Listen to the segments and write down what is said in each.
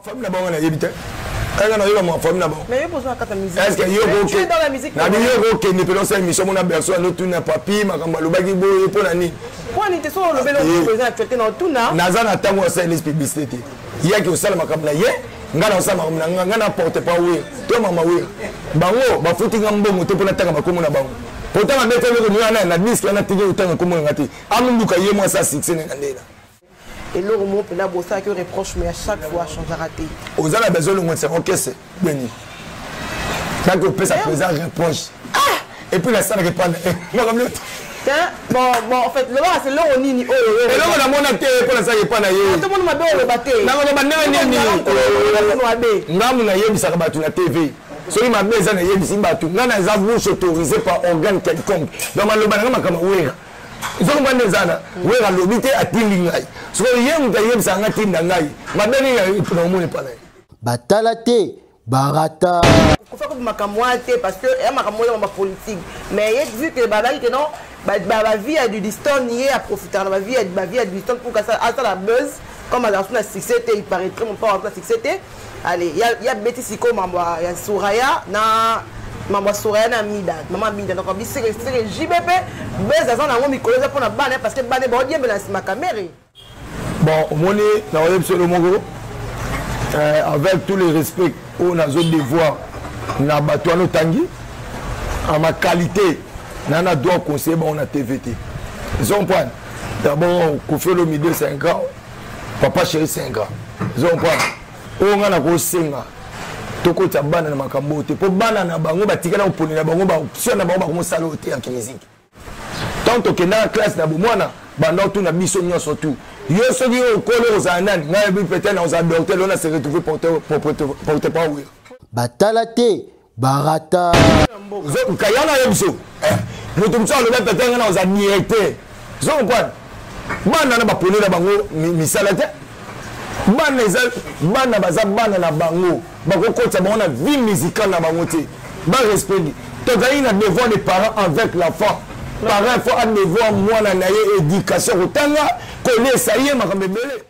famille na bango nayebi te kaka nayoka mwa famille na bango na biyo okokende mpe nosala émission mona berso anotuna papi makambo alobaki boye mpo na nini naza na ntango ya sales publicité te yaki osala makambo na ye ngai naosala makambo na ngai ngai na porte pa wira to mama wira bango bafuti ngai mbongo te mpo natanga bakomo na bango potanga bete eloko nioana na diske wana tiki otanga komonanga te amoluka ye mwasi ya succès na ngai ndena eloko moko mpena bosalaki yo reproche mais à chaque fois achangera te oza na besoin olongotisa okese beni kaki opesa présent reproche ah! epuis nasalaka epa na ye makamioto lobaka eloko nini oyoeloko namona te mpo nasalaka epa na yetomoni mabe oloba te nakoloba ndenge nini ngambu nayebisaka bato na tv soki mabe eza nayebisi bato ngai naza bouche autorisé par organe quelconque donc maloba na ngai makambo wera zokomba nde eza na oyo alobi te atindi ngai sikoyo ye moto ayebisa ngai tinda ngai mabe nini na omoni epa na ye batala te barata kofa kobi makambo wana te parce que ya makambo oyo ma politique mais ye vu que bazali ke non bavie ya dudiston ye aprofitaka na bavie ya dudiston pour asala buzz comme azala so na succès te il paraîtrait mon père azala na succès te Allez, ya ya beti siko mambo ya Suraya na mambo ya Suraya na Mida. Maman Mida donc bi seke seke JBP beza za nango mikolo eza pona bana parce que bana ba diembe na sima kamere. Bon, omoni na oyebi solo moko euh, avec tous les respects oyo nazo devoir na bato wana otangi en ma qualité na na droit conseiller bango na tv te zompoine d'abord kofi olomide c'est un grand papa chéri senga ozo comprendre oyo ngai nakosenga tokotya bana na makambo oyo te mpo bana na bango batikala koponi na bango baoption na bango bakomosala oyo te ya kimiziki ntango tokendaka classe na bomwana banda otuna biso nyonso tu yo soki yo okoli ozala nani ngai yebi peut-être nakozala docteur lona se retrouve porte parole batala te barata kaya na yo biso eh, moto mosusu aloba tata yanga na oza directeur zo comprendre bana na bapone na bango misala te bana eza bana baza bana na bango bakokotisa bango na vie musicale na bango te barespecte tozali na devoir des parents avec l'enfant parent fo adevoir mwana na ye éducation kotanga kolesa ye makambo ebele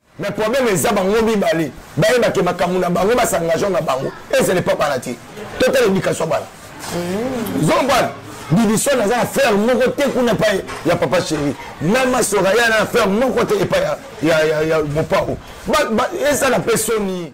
mais problème eza bango mibale bayeba ke makambo na bango basangageo na bango ezele pa bana te totala éducation bana mm. zombana bibiso naza na frère moko te kuna epai ya papa chéri na masora ya na frère moko te epai ya mopao ezala mpe soni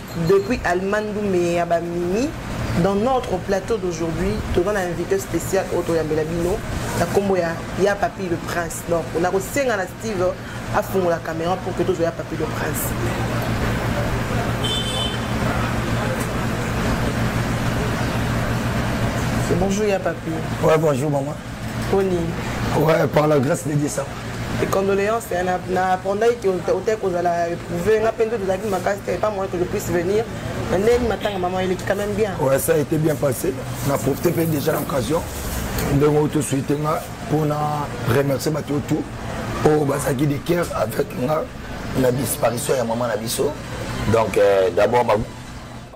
Depuis Allemagne Douméa ba Mimi dans notre plateau d'aujourd'hui toza na invité spécial oyo toyambela bino na nkombo ya ya papi le prince donc nakosenga na steve afungola caméra pour que tozwa ya papi le prince bonjour ya papi ouais bonjour maman poni ouais par la grâce de dieu ça condoléance hein, napendaki ke otaki kozala éprouve nga mpe nde tozalaki makasi te pas moyen que je puisse venir na ndenge matanga mama eleki quand même bien ouais, ça a été bien passé na profite mpe déjà na occasion ndenge oyo tosuite nga mpo na remercier bato yo tout oyo bazalaki de cœur avec nga na disparition ya mama na biso donc euh, d'abord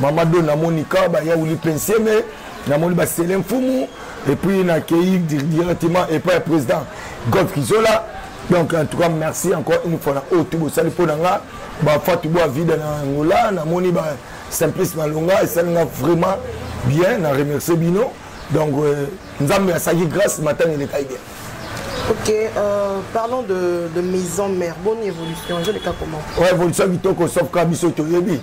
mama do namoni ka bayauli pense me namoni basele mfumu epuis nakei directement epai ya président golf kizola donc en tout cas merci encore une fois na oyo tu bosali mpo na nga bafatu bwa vida na angola namoni ba simplice malonga esali nga vraiment bien na remercie bino donc euh, nzambe asaki grâce matanga elekai bien Ok, euh, parlons de, de maison mère. Bonne évolution. Je l'ai comment Ouais, évolution, Vitoko, sauf Kabiso, Toyebi.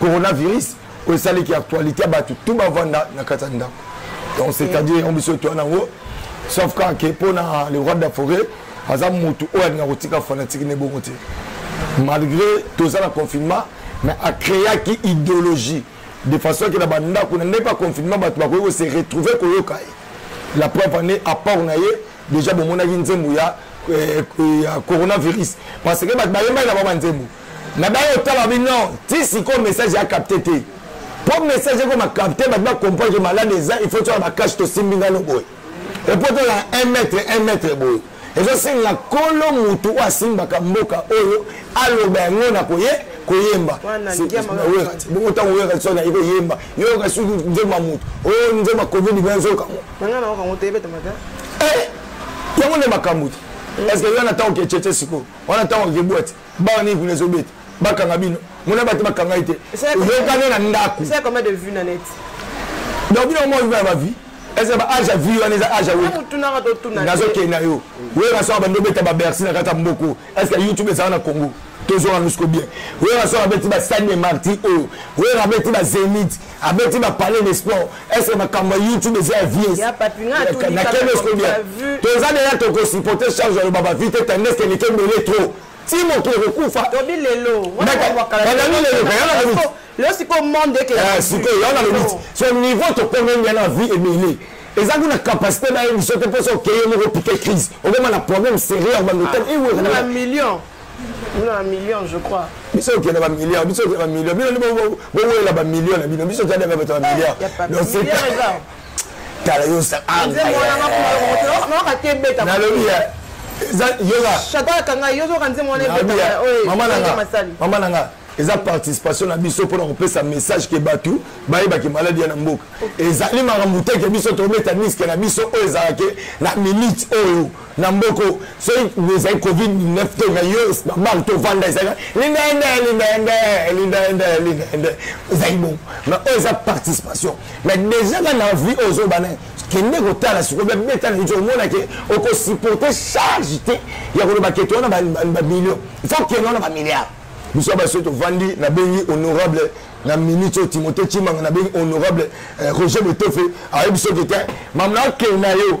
coronavirus oyo esaleki actualité ya bato tu bavanda na kati ya ndako donc c'est-à-dire yango biso toya nango sauf kaka ke mpo na le roi de la forêt aza motu oyo alinga kotika fanatiki na ebongo te malgré toza na confinement mais acréaki idéologie de façon ke na bandako na ndenge baconfinement bato bakoki kose retrouve koyoka ye la preuve ane apport na ye déjà bomonaki nzembo ya eh, eh, coronavirus parce que bato bayembaki na bango banzembo na baye otala bi non ti sikoyo message ya capte te mpo message ekoma capte bato bacomprendre malade eza il faut toyala bakashi tosimbi ngano boye epo tola 1 mètre 1 mètre boye ezosenga kolo motu oyo asimbaka mboka oyo aloba yango na koye koyemba bongo ntango oyoka liso na ye koyemba yoyoka soki nzembo ya motu oyo nzembo ya covid mpe nzokango yango nde makambo te parce que yo na ntango okecece sikoyo wana ntango okebwati bana nini kuna ezobeta bakanga bino mona bato bakanga ye te oyokani na ndako donc bino moko viva ya bavie eza ba age ya vie wana eza age ya nazokende na yo oyo nasala bando obeta babersi na kati ya mboko estce youtube ezala na congo tozonga nusko bien oyo nasala abeti basani de marti oyo oyo abeti bazenite abeti ba palais de sport est ce que makambo ya youtube eza ya vies na kende siko bien toza deja tokosupporte charge ya loba bavi te tandis ke leke ebele trop ti moto ekokufa tobi lelo lelo sikoyo monde ekesikoyo eh, yana lobiti so niveau tokomi ngai na vie ebele eza kuna capacité na ye biso te mposo okeye moko pike crise okoma na problème sérieux ya bandotel iwe bino na million je crois biso okenda bamillion biso okenda bamillion bino nde bowelela bamillion na bino biso tadaka bato bamillion tala yo nalobi mama na nga eza participation na biso mpona kopesa message ke bato bayebaki maladi ya na mboka ezali makambo te ke biso tobeta niske na biso oyo ezalaki na minute oyo na mboko soki ezali covid 19 te na yo babange tovanda ezali lindaende lindaende lindaende lindaende ezali bongo ma oyo eza participation ma déjà ka na vie oyo ozobana kende kotala sikoyo babeta na yo omona ke okosupporte charge te ya koloba kete wana bamillion il faut kende wana bamilliard biso baso tovandi nabengi honorable na minute oyo timote cimanga nabengi honorable eh, roger betofe ayebi soki te mamna akende na yo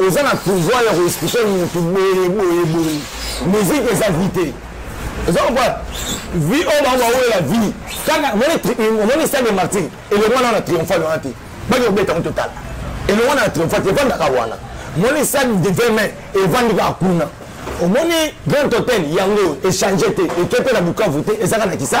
oza na pouvoir ya koexplike motu boye boye boye musique eza vie te oza kokola vie oyo bango baolela vie kaka omoni stade de martyr elongo wana na triomphal wana te baki kobeta yango totala elongo wana na triomphal te evandaka wana omoni stade de 20 mai evandi kaka kuna omoni grand hôtel yango echange te ekete na bukavu te ezaka na kisa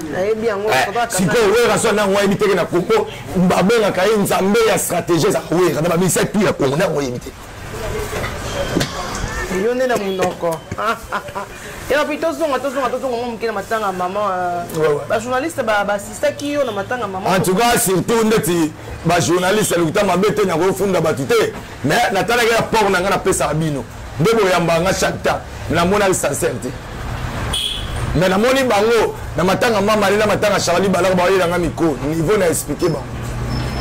Eh, sikoyo werrason nango ayebi teke na congo babengaka ye nzambe ya stratégie eza wera na bamisa tu ya congo nango ayebi te yo nde na monoko epapi tozonga tozonga tozonga mwa moke na matanga ya mama euh, bajournaliste basistaki yo na matanga ya mama en tout cas surtout ndeti bajournaliste lokuta mabe te nakofunda bato te mais natalaki ya port na ngai napesaka bino nde boyambaka nga chaque temps me namonaki sincere te me namoni bango na matanga mamale na matanga charli balaka baoyelanga miko niveau na explike bango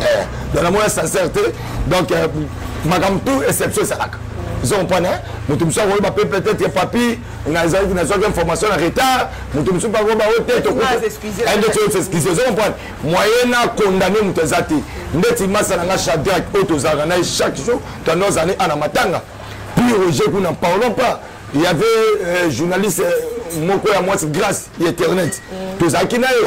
eh, donc namona sincere te donc euh, makambo tout exception ezalaka ozo comprendre moto mosusu akoyeba mpe peut-être papi nazalaki nazwaki information na retard moto mosusu mpe akoyeba o te tokoexcuse ozo comprendre moyen na condamne moto eza te ndeti masa na nga chadrak oyo tozalaka na ye chaque jour tando azali ana matanga puis roger kuna parlons pas il y avait euh, journaliste euh, moko ya mwasi grâce ya internet mm. tozalaki na ye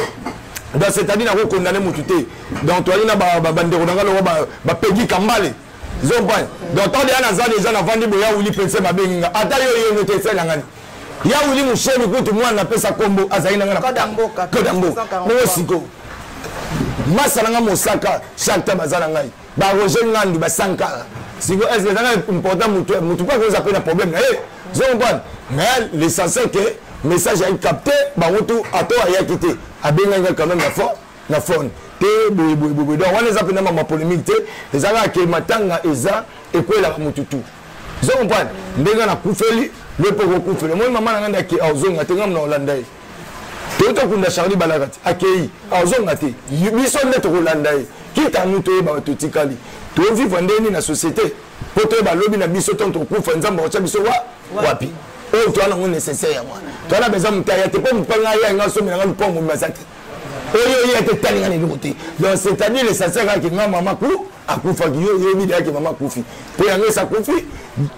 donc c'est-à-dire nako condamne motu te donc toyali na bandeko na nga loko bapegi kambale zompa donc tande ya naza deja navandi boya wili pense babengi nga ata yo yenge te esalangani ya wili musoni kutu mwana napesa kombo azali nanga na kodamboka bongo siko masa nanga mosaka chaque temps baza na ngai baroger ngandu basankara siko est ce que ezanga important mutu mutu mpe akoza mpe na problème na ye zo comprendre mais l'essentiel que message ayi capte bango tu ato ayaki te abengaki ngai quand même na fort na phone te boye boye boye donc wana eza mpenza mama polémique te eza kaka ke matanga eza ekwelaka motu tu ozo comprendre ndenge nakufeli yo mpe okokufeli omoni mama na ngai nde ake aozonga te ngai mna olanda ye toyota kunda charli balaka te akei aozonga te biso nde tokolanda ye kita nu toyeba totikali tovivre ndenge nini na société mpo toyeba lobi na biso ntango tokufa nzambe akotya biso wa wapi oyo toa nango nécessaire yango toa na beza motaya te mpo mopanga ya ngai asomela ngai lupango momi baza te oyo ye ate etali nga na eloko te donc c'est à dire l'essentiel kaka ke nga mama ku akufaki yo oyebi dayake mama akufi mpo yango esi akufi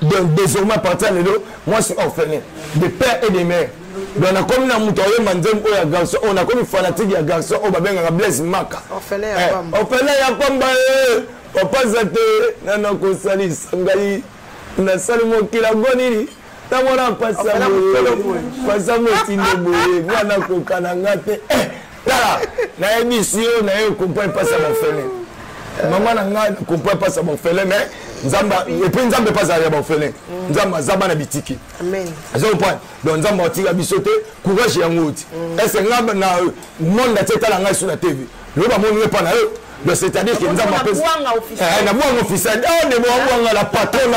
donc désormais à partir ya lelo moi suis orphelin de père et de mère donc nakomi na moto ayemba nzembo oyo ya garçon oyo nakomi fanatique ya garçon oyo babengaka blaise maka orphelin ya pamba eh, papa za te nana kosalisa ngai nasali mokila go nini ntango wana mpasi ya boye mpasi yango etinde boye mwana kokana nga te eh, tala nayebisi yo na ye okompa mpasi ya bafele mama na nga kompa mpasi ya bafele mais nzambe epe nzambe mpe azalaka ya bafele mm. nzambe aza bana bitiki aza comprendre donc nzambe atika biso te courage yango oti mm. ese nga na monde atie etala ngai so na tv loba amoni epa na yo donc c'est-à-dire que nzambe apesi eh, na bwanga officiel o ndebo abwanga la patrona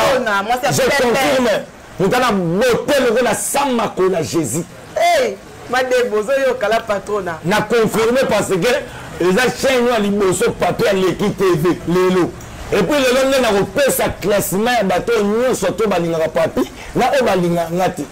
je confirme moto na bote loko na sam makola jésus eh, madebo ozoyoka la patrona na confirme parce que eza chaine oyo ya liboso pato ya leki tv lelo epuis lelo nde nakopesa classement ya bato nyonso to balingaka papi na oyo balingaka nga te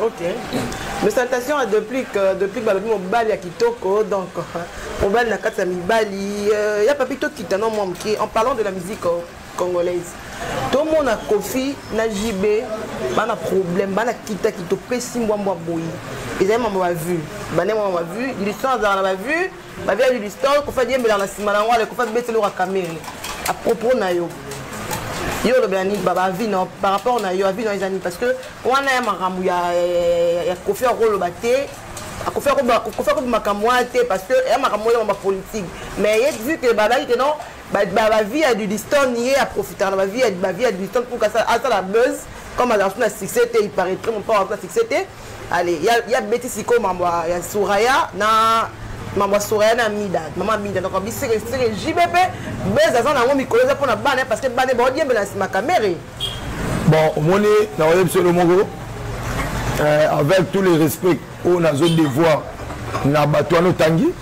Ok. Mes salutations à Deplic. Euh, Deplic balobi mobali ya kitoko. Donc, mobali na kati ya mibali. Euh, ya papi tokita no mwa moke. En parlant de la musique euh, congolaise. tomona kofi na jb bana problème bana kitaki topesi mbwambwa boye ezali mama bavue bane mama bavue lison azala na bavue ba via du store ko fa diembela na sima na ngwale ko fa betelo ka kamere a propos na yo yo olobela nini baba avi na par rapport na yo avi na eza nini parce que wana ya makambo ya ya kofi akoloba te akofi akobi makambo wana te parce que ya makambo oyo ya bapolitique mais ye vu que babaki ke non bavie ya dudiston ye aprofitaka na bavie ya dudiston pour asala buzz comme azala so na succès te il paraîtrait mon papa azala succès te Allez, ya ya beti siko mambo ya Suraya na mambo ya Suraya na Mida. Mama Mida donc bi seke seke JBP beza za nango mikolo za pona bana parce que bana ba diembe na sima kamere. Bon, omoni na oyebi solo moko euh, avec tous les respects oyo nazo devoir na bato wana otangi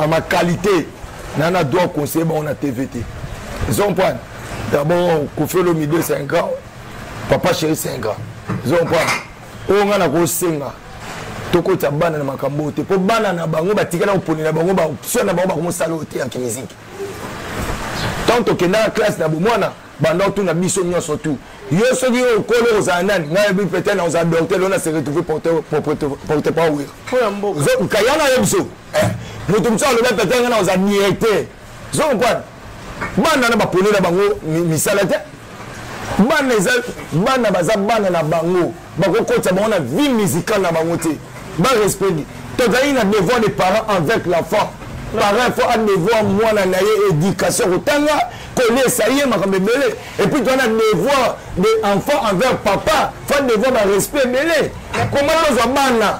à ma qualité na na droit conseiller bango na TV te. Ils ont point. D'abord, Kofi Olomide, c'est un grand papa chéri c'est un grand ozo comprendre oyo ngai nakosenga tokotya bana na makambo oyo te mpo bana na bango batikala koponela bango basoi na bango bakomosala oyo te ya kimiziki ntango tokendaka classe na bomwana banda otuna biso nyonso tu yo soki yo okolo ozala nani ngai yebi peut-être na ozala docteur ona se retrouve porte-parole oyo nkayana yo biso eh, moto mosusu aloba peut-être ngai na ozala directeur zo comprendre bana na bapone na bango misala te bana eza bana baza bana na bango bakokotisa bango na vie musicale na bango te barespecte tozali na devoir de parent avec l'enfant parent fo adevoir mwana na ye éducation kotanga kolesa ye makambo ebele epuis toza na devoir de enfant envers papa fo adevoir barespect ebele koma tozwa bana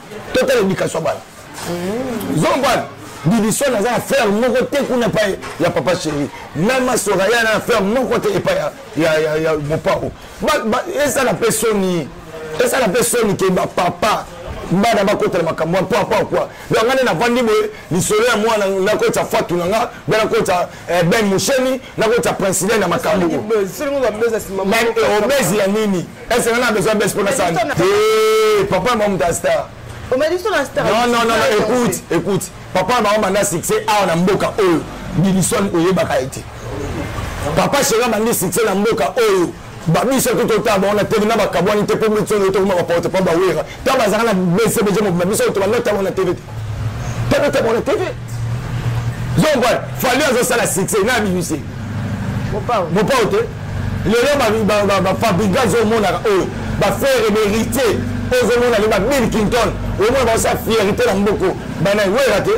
totala education ya bana zombana bibiswana aza na frère moko te kuna epai ya papa chéri mama soraya na frère moko te epai ya mopao esala mpe soni esala mpe soni ke bapapa bana bakotela makambo ya mpo apakwa donc nga nde navandi boye lisolo ya mwana nakotisa fatu na nga mpe nakotisa Eh, ben musheni nakotya princile na makambo obese ya nini ese nana besoin bese mpona sani eh, papa mamuta star écoute écoute papa bango banda succès awa na mboka oyo bidison oyebaka ye te papa shera bandi succès na mboka oyo babisa kutu otala bango na tele na bakabwani te mpo mbeti oyo tokoma baporte mpo bawera ta bazalaka na besebeje mobima biso oyo tobanda otala bango na tele te tala otala bango na tele zombal fali azosala succès na bibisi mopao te lelo bafabrika azomonaka oyo bafere beritier ozomona le babill kinton omona baosa fierité na mboko bana wera te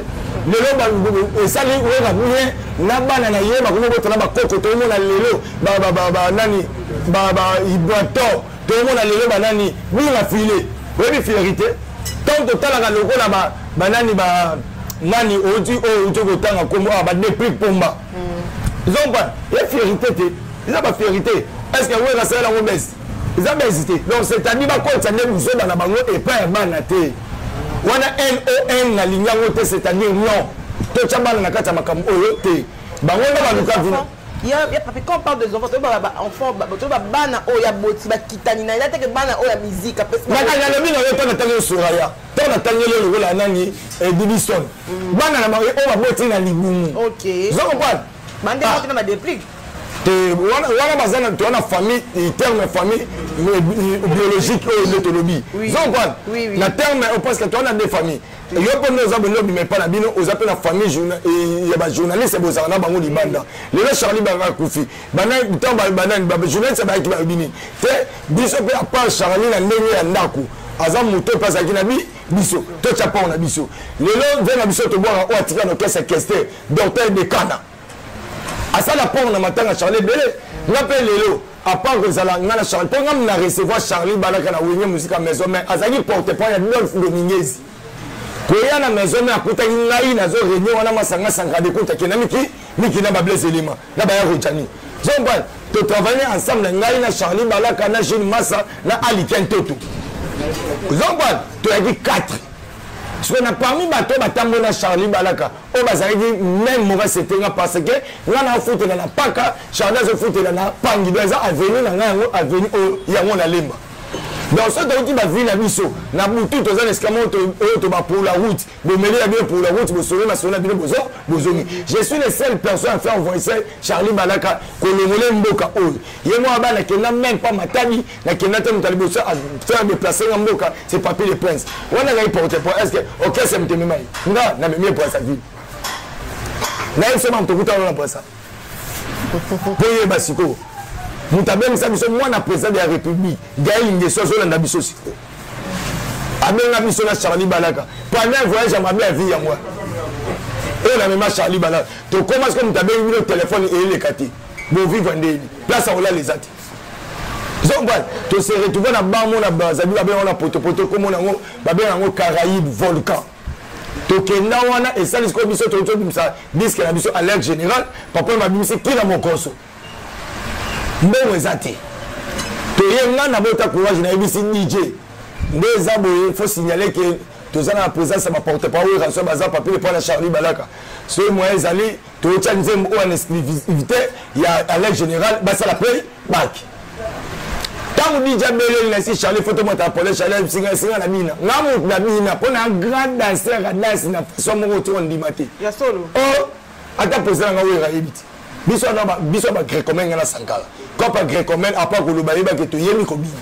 lelo esali wera bien na bana na ye bakomi botala bakoko tomona lelo ba ba ba ba nani ba ba ibwato tokomona lelo ba nani bunga file oyebi fileri te ntango totalaka lokola ba ba nani ba nani oti oyo oh, oti kotanga nkombo awa ah, ba deplique pomba mm. zomba ye fieri te te eza ba fieri te est ce que wera asala yango bese eza bese te donc c'est à dire bakotisa nde buzoba na bango epai ya bana te wana non nalingi yango te c'est à dire non totya bana na kati ya makambo oyo te bango nde baluka vino ya ya papi quand on parle des enfants toyeba ba enfants toyeba bana oyo ya boti bakitani na ya teke bana oyo ya mizika pesialobi na yo ntango natangi osunga ya ntango natangi yo lokola nani eh, bibison mm. bana na oyo baboti na libumu zokompane bandeko ah. tina badeplique wana baza na toa na famille terme ya famille biologique oyo nde tolobi zokompane na terme parce que toa na nde famille yo mpe nde oza bolingi obima epai na bino oza mpe na famille eh, ya bajournaliste bozala na bango libanda lelo charli banga akufi ntango banani bajournaliste bayaki bayebi nini te biso mpe apart charli na ndenge ya ndako aza moto mpe azalaki na bi biso totya mpango na biso lelo ve na biso tobwaka oyo atika na kese keste docteur dekana asala port na matanga charlie ebele nga mpe lelo apart kozala nga na charlie mpo nga na recevoir charlie balaka na wenge mosika maison mai azalaki porte point ya dolphe dominguez koya na maison mai akutaki ngai nazo réunion wana masanga sankade kuta kenda miki miki na bablaise elima na baya rojani zombal totravaille ensemble ngai na charlie balaka na jeune massa na aliken toto zombal toyaki 4 sikoyo na parmi bato batamboli na charlie balaka oyo bazalaki meme mauvaise société nga parce que nga na afutela na paka charda azofutela na pangi donc eza avenue na nga yango avenue oyo yango na lemba donc soki toyuti bavie na biso na butu toza na esika moko oyo toba pour la route bomeli ya bino pour la route bosolo masolo na bino bozo bozongi je suis le seul personne à faire voice charlie balaka kolongole mboka oyo ye mwa bana kenda meme pa matadi nakenda te moto ya liboso afere deplace nga mboka se papier de prince wana ngai porte po est ce que orchestre moto emema ye nga na memi ebrasa ville nayebi se banto kuta wana na brasa mpo yeba sikoyo moto abengisa biso mwana président de la république gael ngeso azolanda biso sikoyo abenga biso na charlie balaka pendant un voyage ya mabe ya vie yango oyo na mema charlie balaka tokoma sikoyo moto abengi bino telefone eyeleka te bovivre nde yebi place akolala eza te zombal to se retrouve na bango na bazabi babenga yango na potopoto komona yango babenga yango caraïbe volcan tokenda wana esali sikoyo biso tokoki tobimisa diske na biso alerte général papa babimisi kina mokoso mbongo eza te toye nga nabota courage nayebisi dj nde eza boye fo signale ke toza na présence ya baporte parole raso baza papile mpo na charlie balaka soki moyen ezali toyotya nzembo oyo na exclusivité ya alain général basala mpe baki ntango dija beleli na si charlie foto motala pole charlie singasinga na bina nga moto na bina mpo na grand danser adansi na façon moko otyoko ndima te o oh, ata posa na nga oyo eyebi te biso wana biso ba grecomel nga na sankala copa grecomel apa koloba yebaki toyemi kobina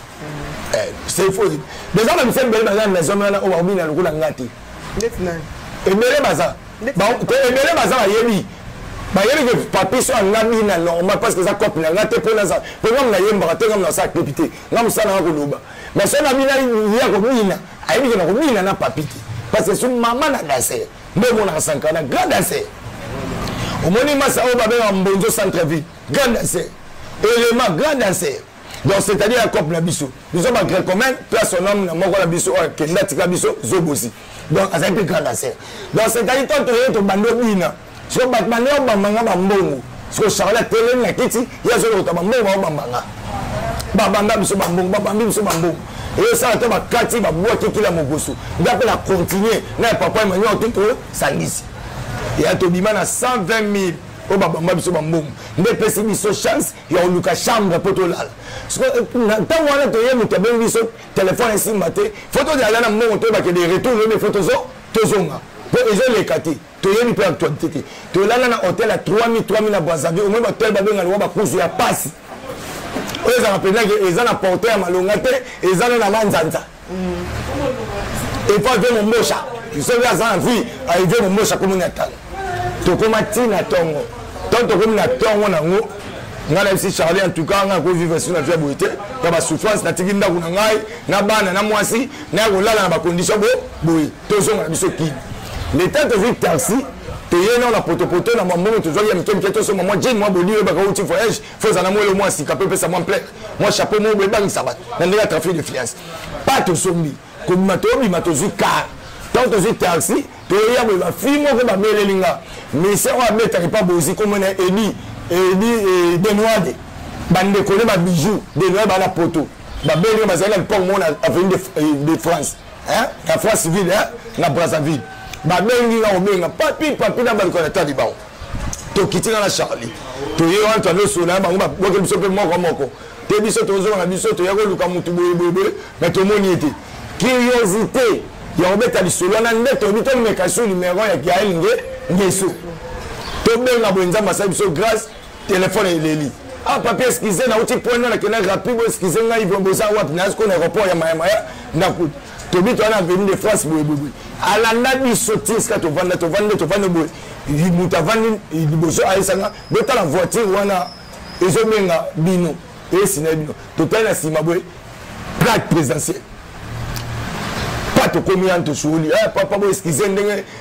eh, c'est faux déjà na misali bele baza na zone wana oyo bakobina lokola nga te ebele baza ebele baza bayebi bayebi ke papi so anga bina normal parce que eza cope na nga te mpo naza mpo nga munayembaka te nga munasala clip te nga mosala nga koloba mais so na bina ya kobina ayebi ke na kobina na papi te parce que so mama na danser nde omonaka sankana grand danser omoni masa oyo babengaka mbonzo centre ville grand danser elema grand danser donc c'est à dire ya cope na biso biso ba grecomene mpe ya son homme na moko na biso oyo akenda atika biso zobosi donc azali mpe grand aser donc c'est à dire to toye tobandi obina siko bato bande obambanga bambongo siko charle atelemi na kiti ye azolokota bambongo baobambanga babanda biso bambongo babambi biso bambongo eyosala to bakati babwaki kila mogosu nga mpe na continue na ya papa emmanuel to tosangisi ya tobima na 120 000 oyo babamba biso bambongo nde epesi biso chance ya oluka chambre mpo tolala ntango wana toye moto abengi biso telefone esimba te fo tozala na mbongo toyebake de retour lobi fo tozonga mpo ezoleka te toyebi mpe actualité te tolala na hotel ya 3000 3000 na bwazavi omoi bahotel babenga liwa bakuzu ya pasi oyo ezalaka mpenza ke eza na porte ya malonga te eza na na manzanza epa ve mombosha soki aza na vie aive mombosha komi na talo tokoma ti na ntongo ntango tokomi na ntongo nango ngai nayebisi charlie en tout cas ngai akovivre sur na vie ya boye te ya basouffrance natiki ndako na ngai na bana na mwasi naya kolala na bacondition bo boye tozonga na biso kini leta tozwi taxi toye nao na potopoto na mambongo tozwaki ya mike mike tosomba mwa jene mwa bodi oyebaka outi voyage fo eza na mwelo mwa sika mpe opesa mwa mple mwa chapeau moko boye ebangisa bato na ndenge ya trafic de fiance pa tosombi kobima tobima tozwi kar ntango tozwi taxi toya boye bafi moko bameleli nga ministère oyo abetaka epa bozi komona edi edi eh, denoide bandeko ne babijou denoide bana poto babeli bazali na lipoko moko na avenue de, eh, de france na france ville na brazzaville babengi nga kobenga papi papi na bandeko na tali bango tokitika na charlie toye wana toyande osolola bango babwaki biso mpe moko moko te biso tozonga na biso toya koluka motu boyeboyeboye me tomoni ye te curiosité ya kobeta lisolo wana nde toyebi tomeka so numero ya gael nge ngeso tobenga boye nzambe asali biso grâce telefone eleli ah papi eskize nauti point wana kenda rapide boeskize ngai boza wapi nazi kona aéroport ya mayamaya ndakuti tobi to wana venu de france boye boye boye alanda biso ti esika tovanda tovandi tovandi boye moto avandi liboso ayesanga botala voiture wana ezobenga bino eyesina bino totali na nsima boye plaque présidentielle pa tokomi yani tosuoli eh, papa boye eskize ndenge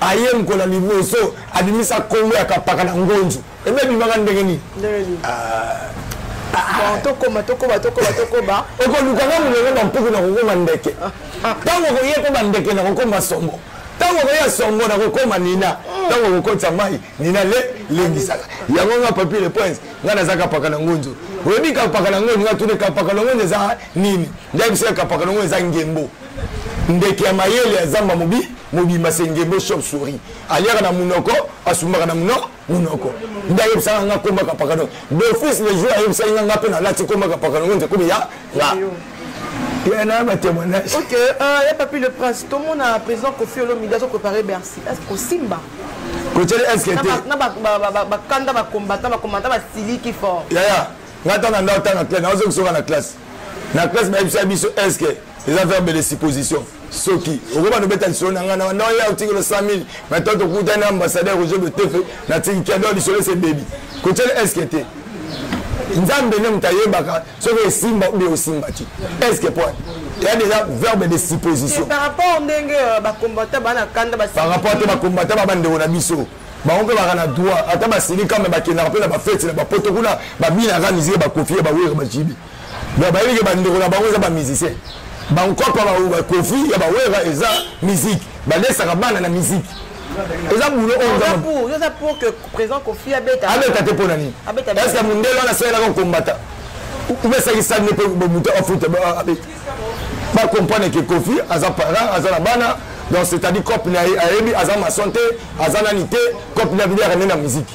ayengola liboso abimisa kombo ya kapaka na ngonzu ebe ebimaka ndenge nini tokoma tokoma tokoma tokoma okolukaka molongo bampuku na kokoma ndeke ntango okoye mpe bandeke na kokoma sombo ntango okoya songo na kokoma nina ntango okokotisa mai nina le lengisaka yango nga papier le prince nga naza kapaka na ngonzo oyebi kapaka na ngonzo nga tuni kapaka na ngonzo eza nini ngai biso ya kapaka na ngonzo eza ngembo ndeke ya mayele ya zamba mobi mobimba sengembo shop souris aliaka na munoko asumbaka na muno munoko nde ayebisaka nga kombaka pakadon bofis le jour ayebisaki nga nga mpe nalati kombaka pakadon nze komi ya nga yana batémoignage ok euh, ya papi le prince tomona président kofi olomide azo préparé bercy est ce kosimba kotyeli eske te na bakanda bakombata bakombata basiliki fort yaya nga ntango na ndao ntango na classe naozokisoka na classe na classe bayebisa biso eske eza verbe de supposition soki okobanda obeta lisolo na ngai na banda oya otikelo 100 000 na to tokutani na ambassadeur roger de tefe natiki kiado lisolo ese bebi kotyele eske te nzambe nde moto ayebaka soki osimba obi osimba te eske po ya déjà verbe de supposition par rapport ndenge euh, bakombata bana kanda par rapport te bakombata ba bandeko na biso bango mpe baka na droit ata basilika me bakendaka mpe na bafeti na bapoto kuna babinaka miziki bakofi ya bawere bajibi donc bayebi ke bandeko na bango eza bamusicien bankopa bakofi ya bawera eza musike balesaka bana na musike eza bulo oyoabeta te mpo na nini eske mondele wana asalelaka kombata umesaki sani mpe moto afuta abeta bacomprendre ke kofi aza parent aza na bana donc c'est-à-dire cope na ye ayebi aza mason te aza nani te cope na bino yaka nde na musike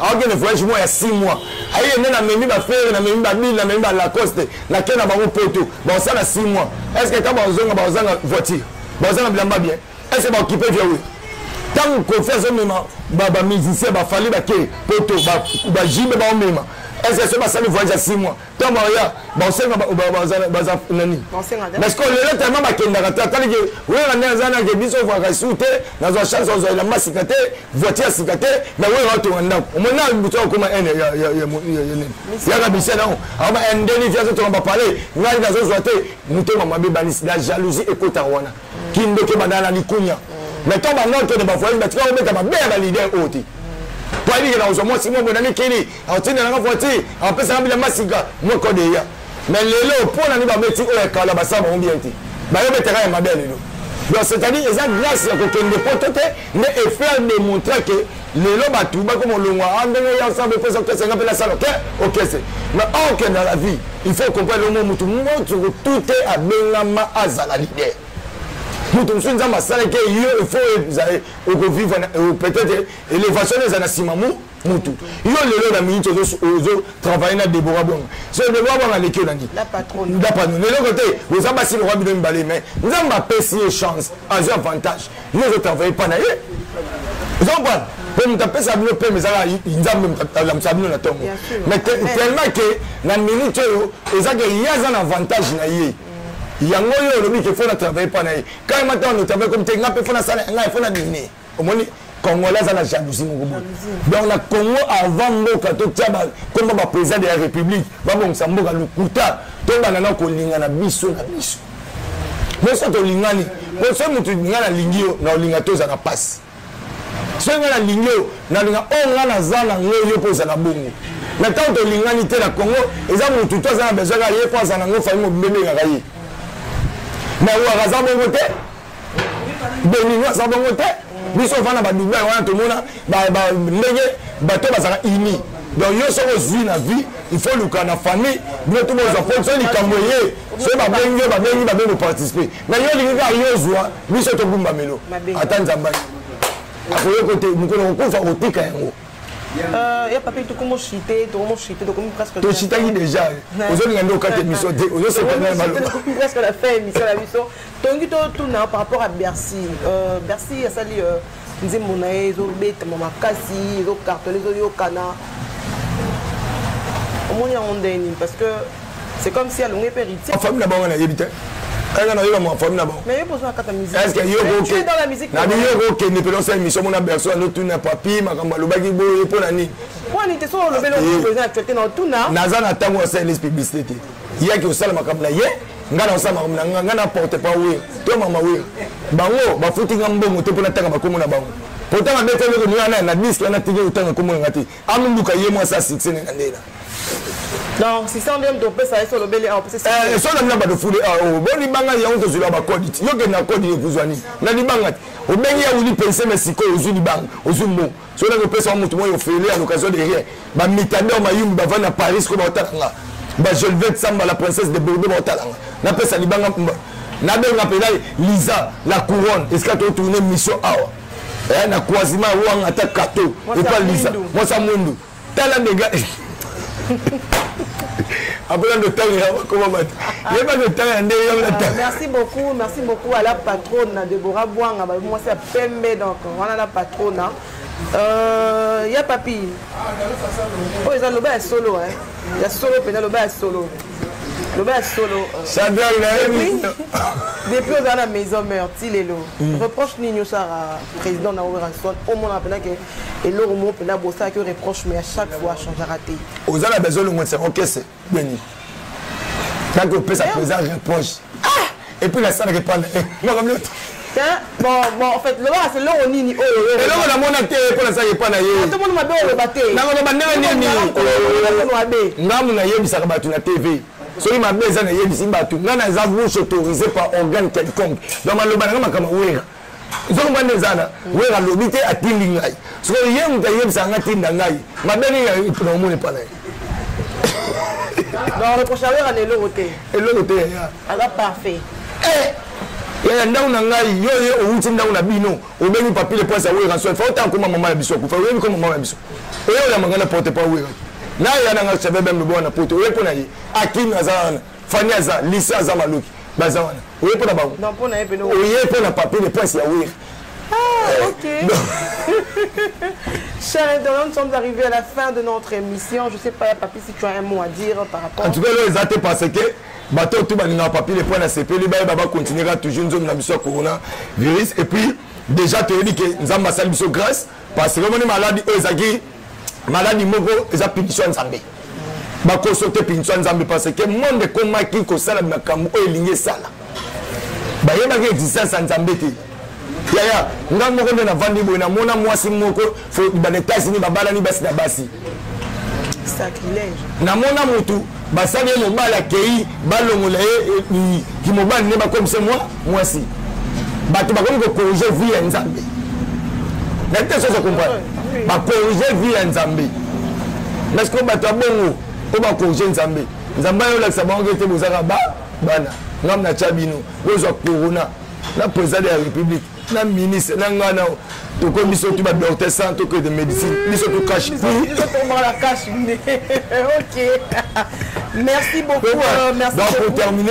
akokende voyage moko ya 6 mois aye nde namemi bafere namemi babile namemi balacoste nake na bango poto bakosala 6 mois est ce que ntango bakozonga bakozanga voiture bakozanga bilamba bien est ce que baokipe via oyo ntango kofi azomema bamusicien bafali bake poto bajibe baomema est ce que so basali voyage ya 6 mois ntango baya basenga baza nani parce que lelo tellement bakendaka te atali ke wera nde aza nake biso ovaka su te nazwa chance ozwa elamba sika te voiture ya sika te me wera atonga ndako omona butu akoma ene yaka bise nango akoma endeni fi azotonga bapale ngai nazozwa te motema mabe banisi la jalousie ekotaka wana kindoki ebandaka na likunya me ntango bango akende bafoyaki batika kobeta mabe ya balider oyo te po ayebikela kozwa mwasi moko na mikili atinda nanga voiture apesaka bilamba sika moko deya mais lelo mpo nani babeti oyo ya kala basala bango bien te bayobetaka ya mabe ya lelo donc c'est-à-dire eza grâce ya kokende poto te nde efaire démontre que lelo bato bakoma olongwa a ah, ndenge ya nsambo ekosa okese nga mpe nasala oke okese mais orke na la vie il faut comprendre lomo motu motu tute abengama azala lider moto mosusu nzambe asalaki yo il faut ozali okovivre peut-être élévation eza na nsima mu mutu yo lelo na minute ozo travaille na debora bonga so debora bonga aleki yo na nini dapano na eloko te oza basi lokwa bino mibale mai nzambe apesi ye chance azwi avantage yo ozo travaille mpa na ye oza mpana mpe moto apesa bino peme ezaka nzambe alamusa bino na ntongo mais tellement ke na minute oyo eza ke ye aza na avantage na ye yango oyo olobi ke fo na travaille mpa na ye kayema ntango na travaille komi te ngai mpe fo nasala ngai fo na dine omoni congolais aza na jalousie moko boye donc na congo avant mboka totya komba baprésident de la république babongisa mboka lokuta tobanda na kolingana biso na biso biso tolingani po soki moto ngai nalingi yo na olinga te ozala mpasi soki ngai nalingi yo nalinga oyo oh, ngai naza na ngo yo mpo ozala bongo na ntango tolingani te na congo eza motu to aza na besoin kaka ye mpo aza na ngo fami mobimba ebengaka ye na waka aza bongo te benino aza bongo te biso ofana badubai wana tomona ndenge bato bazala uni donc yo soki ozwi na vie il faut luka na famille bino to bozwa po so likambo eye soki babengi yo babengi babengi koparticipe na yo olingi kaka yo ozwa biso togumbamelo ata nzambani akoyoko te mokolo kokufa kotika yango Euh, ya papi tokomo chute tokomo chute tokomi presque tochitaki déjà ozolinga nde okata émission te ozosepresque na fin émission na biso tongi totuna par rapport à bercy euh, bercy asali euh, nzembo na ye ezobetama makasi ezokartole ezoyokana omoni yango ndenge nini parce que c'est comme si alongi mpe héritier famille na bango nayebi te kaka nayoka mwa famille na bango nabiyoka okende mpe losa émission mona berso anotuna papi makambo alobaki boye mpo na nini naza na ntango ya sales publicité te yaki osala makambo na ye nga na osala makambo na nga nga na porte pa we to mama we bango bafuti nga mbongo te mpo natanga bakomo na bango potanga bete eloko ni wana na disk wana tiki otanga komo na nga te amuluka ye mwasi ya succès ne na ndela donc 600 bien topesa ye solobeli awa esona mina bato fule bo libanga yango tozwila bakodi ti yo kende na kodi ekozwa nini na libanga ti obengi ya wili pense me sikoyo ozwi libanga ozwi mbongo soki naki opesa wa motu moi ofele à l'occasion de rien bamitador mayumbi bavandi na paris ko baotala nga bagelvet samba la princesse de bordeaux baotala nga napesa libanga nabenga mpenza liza la couronne esika totourne mission awa eh, na croisement wanga ata kato epa liza mwasa mwindu tala ndenge akola ndotango ya bakoma bato yeba ndotango ya ndenge yango nata merci beaucoup merci beaucoup à la patronne na debora bwanga mwasi ya pembe donc wana na patronne euh, ya papi oyo oh, eza loba ya solo ya solo mpenza loba ya solo loba ya solo sadal nayebi depuis oza na maison meur ti lelo reproche nini osala président na werrason omona mpenza ke eloko moko mpenza bosalaki yo reproche mais à chaque fois changera te oza na besoin olongwetisa okese beni naki opesa président reproche epuis nasalaka epana makamioto bon bon en fait lobaka se eloko nini oyo oh, eloko namona te mpo nasalaka epa na ye tomoni mabe oloba te nakoloba ndenge nini ngamu nayebisaka bato na tv soki mabe eza nayebisi bato ngai naza bouche autorisé par organe quelconque donc maloba nanga makambo wera zongba nde eza na wera alobi te atindi ngai sikoyo ye moto ayebisa ngai tinda ngai mabe nini na omoni epa na ye eloko te eloko te yaya aza parfait eh! yaya ndako na ngai yo ye owuti ndako na bino obengi papier de poince ya wera so efa otanga koma mama ya biso akufa oyebi koma mama ya biso oyeolamanga na porte pa wera naya nanga chabebe mlobo wana poto oye mpo na ye akimi aza wana fani aza lisa aza maloki baza wana oye mpo na bango oye mpo na papier de presse ya wire ah, ok. Chers internautes, nous sommes arrivés à la fin de notre émission. Je ne sais pas, Papi, si tu as un mot à dire par rapport. En tout cas, là, ils ont parce que bato tout balingaka papier les points na sepeli bayeba bacontinuera toujours nzomi na biso ya corona virus et puis déjà toyebi ke nzambe asali biso grâce parce que omoni maladi oyo ezalaki maladi moko eza punition ya nzambe bakoso te punition ya nzambe parce que monde ekomaki kosala makambo oyo elingi esala bayebaki existence ya nzambe te yaya nga moko nde navandi boye namona mwasi moko bana etats-unis babalani basi na basi namona motu basali ye mobali akei balongola ye eh, eh, kimobali nde bakomisa mwa mwasi bato bakomi kokorige vie ya nzambe na te soso comprendre bakorige vie ya nzambe parceke bato ya bongo oyo bakorige nzambe nzambe ayo olakisa bango ete bozaka ba bana ngambo na tya bino bozwa corona na président de la république na ministre na ngai nao tokomi biso tu badocteur sans tokoki de médecine biso tu cache merci beaucoup euh, merci donc pour terminer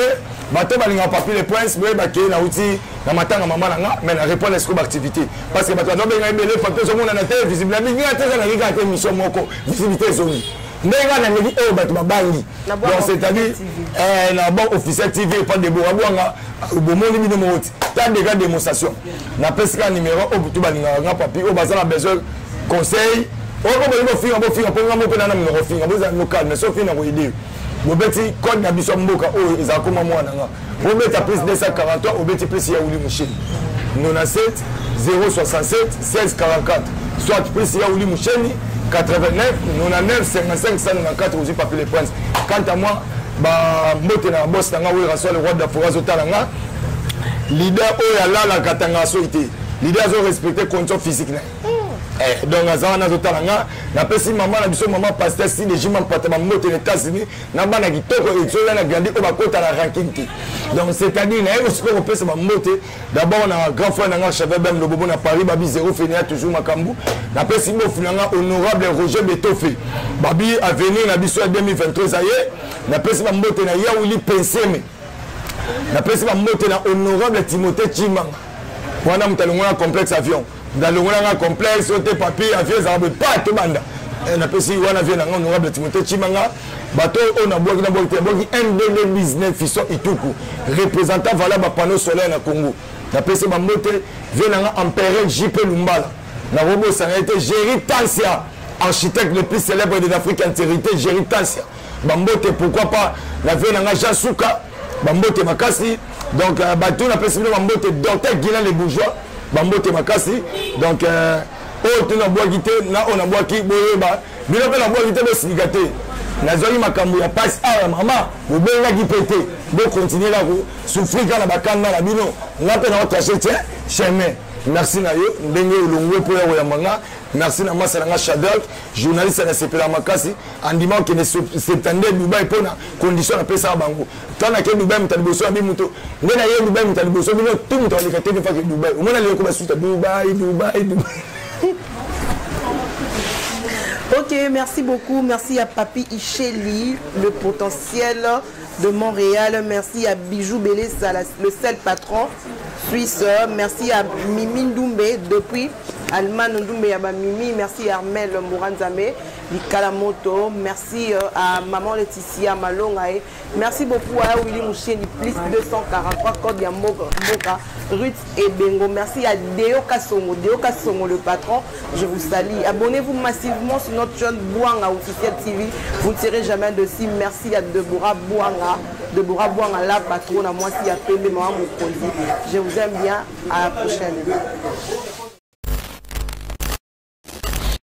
bato balingaka papier le prince boye bakei nauti na matanga mama na nga mais na répondre esiko baactivité parce que bato bazobenga ebele papier ezomonana te visible mingi nga te eza na kikaka te émission moko visibilité ezongi ndenge kaka naleki oyo bato babangi donc c'est-à-dire eh, na banque officiel tv epa debora bwanga bomoni bino moko ti ta dega démonstration napesi kaka numéro oyo butu balingaka nga papi oyo baza na besoin conseil oyo mpo bolingi kofinga bofinga mpo nga moko nana mino kofinga bozala no calme soki ofinga koyede yo bobeti code na biso ya mboka oyo ezala koma mwana nga bobeta plus 243 obeti plus ya wuli musheni 97 067 1644 soit plus ya wuli musheni 89 99 55 194 ozwi papi le prince quant à moi bambote na bosi na nga werasole roi dafora azotala nga leader oyo alala katanga soki te leader azo respecte condition physique na eh, donc aza wana azotala nga napesi mama na biso mama paster sideji mampata bambote na états-unis na bana kitoko ezoya na grandi oyo bakota na ranking te donc c'est-à-dire naye kosikoy kopesa bambote d'abord na grand frère na nga chevel bem lobobo na paris babi zero fenia toujours makambo napesi bofu na nga honorable roger betofe babi avenir na biso ya 2023 eza ye napesi bambote na yauli penseme napesi bambote na honorable timothée chimanga wana moto alongolanga complexe avion moto alongolanga complexe oyo te papier avion ezalaka boye pa tobanda eh, napesi wana vie na nga honorable timothée chimanga bato oyo nabwaki nabwaki te nabwaki mbb 19 fison ituku représentant vala bapanneau solaire na congo napesi bambote vie na nga empereur jp lumbala nakobosana ye te géri tansia architecte le plus célèbre de l'afrique antérité géri tansia bambote pourquoi pas na vie na nga jean suka bambote makasi donc euh, bato napesi bino bambote docteur guilin le bourgeois bambote makasi donc euh, oyo te nabwaki te na oyo nabwaki boyeba bino mpe nabwaki te bosilika te nazwaki makambo ya pasi awa ah, ya mama bobengaki mpe te bokontinue na kosouffrir kaka na bakanga na bino nga mpe naotrache te chemin merci na yo ndenge olongwe mpo ya koyamba nga merci na masa na nga shadrak journaliste nasepela makasi andima okende septande dubai mpo na condition napesaka bango ta nake dubai moto ya liboso ya bi moto nde naye dubai moto ya liboso bino tu moto aleka te defake dubai omona leyoko basuta dubai dubai dubai Ok, merci beaucoup. Merci à Papi Icheli, le potentiel de Montréal. Merci à Bijou Bélé, le seul patron suisse. Merci à Mimi Ndoumbe depuis Allemagne Ndoumbe Mimi. Merci à Armel Mouranzame. likala moto merci euh, à maman Laetitia Malonga et merci beaucoup à Willy Moucheni plus 243 code ya mboka mboka Ruth Ebengo merci à Deo Kasongo Deo Kasongo le patron je vous salue abonnez-vous massivement sur notre chaîne Bouanga officiel TV vous ne serez jamais de si merci à Deborah Bouanga Deborah Bouanga la patronne à moi si à Pembe maman Mokonzi je vous aime bien à la prochaine